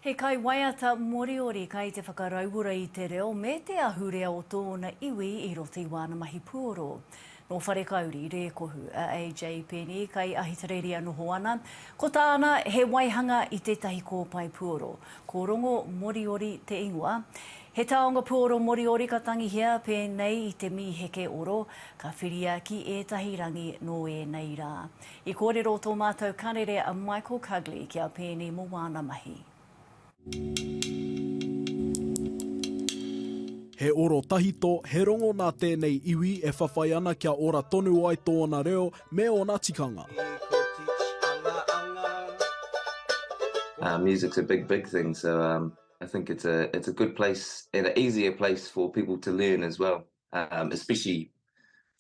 He kaiwaiata Moriori kai te whakarauora i te reo me te ahurea o tōna iwi i roto i wāna mahi puoro. Nō Wharekauri, Rēkohu, a AJ Peeni, kai Ahitereiria noho ana. Ko tāna, he waihanga i tētahi kōpae puoro. Ko Rongo Moriori te ingoa. He taonga puoro Moriori ka tangihia pēnei i te mīheke oro, ka whiria ki ētahi rangi nō ēnei rā. I kōrero tō mātou Karere a Michael Cugley ki a Peeni mō wāna mahi. He oro tahito, he rongo nā tēnei iwi e whawhai ana kia ora tonu ai tōna reo me ōna tikanga. Uh music's a big big thing so um I think it's a it's a good place and a easier place for people to learn as well. um, especially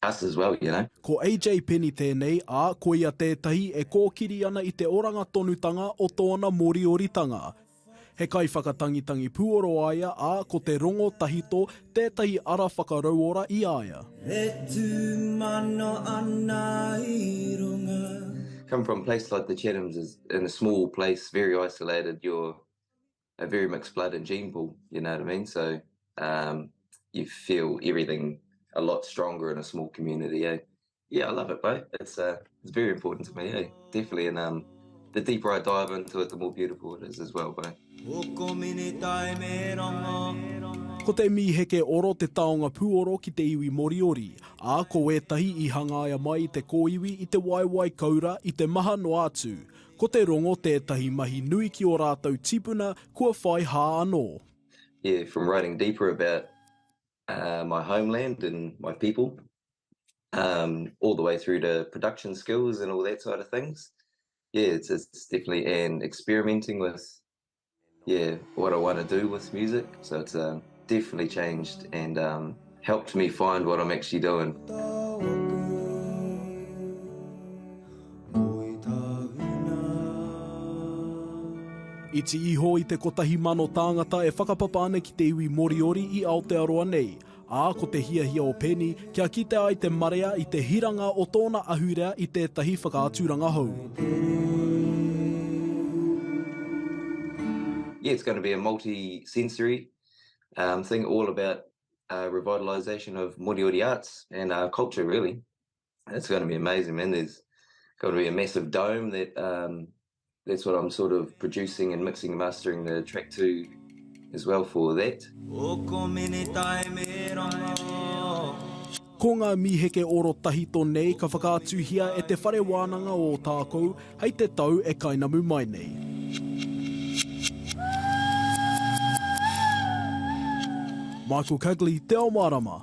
us as well, you know. Ko AJ Penny tēnei, ā, ko ia tētahi e kōkiri ana i te oranga tonutanga o tōna Morioritanga. He kaiwhakatangitangi puoro a ia, ā, ko te rongo tahito tētahi ara whakarauora i a ia. E tū mano ana i runga. Come from a place like the Chathams is in a small place, very isolated, you're a very mixed blood and gene pool, you know what I mean? So um, you feel everything a lot stronger in a small community, eh? Yeah, I love it, bro. It's uh, it's very important to me, eh? Definitely, and um, the deeper I dive into it, the more beautiful it is as well, bro. Ko te mīheke oro te taonga pūoro ki te iwi Moriori, ā, ko wētahi i hangaia mai i te kōiwi i te waewae koura i te maha noa atu. Ko te rongo tētahi mahi nui ki ō rātou tipuna kua whai hā anō. Yeah, from writing deeper about my homeland and my people, all the way through to production skills and all that side of things, yeah, it's definitely an experimenting with Yeah, what I want to do with music, so it's definitely changed and helped me find what I'm actually doing. Iti iho i te kotahi mano tāngata e whakapapa ana ki te iwi Moriori i Aotearoa nei, ā, ko te hiahia o Penny kia kite ai te marea i te hiranga o tōna ahurea i tētahi whakaaturanga hou. Yeah, it's going to be a multi-sensory thing all about revitalisation of Moriori arts and culture really. It's going to be amazing, man. There's going to be a massive dome that um, that's what I'm sort of producing and mixing and mastering the track to as well for that. Ko ngā mīheke oro tahito nei ka whakaatuhia e Te Whare Wānanga o Ōtākou hei te tau e kainamu mai nei. Michael Cugley, Te Ao Mārama.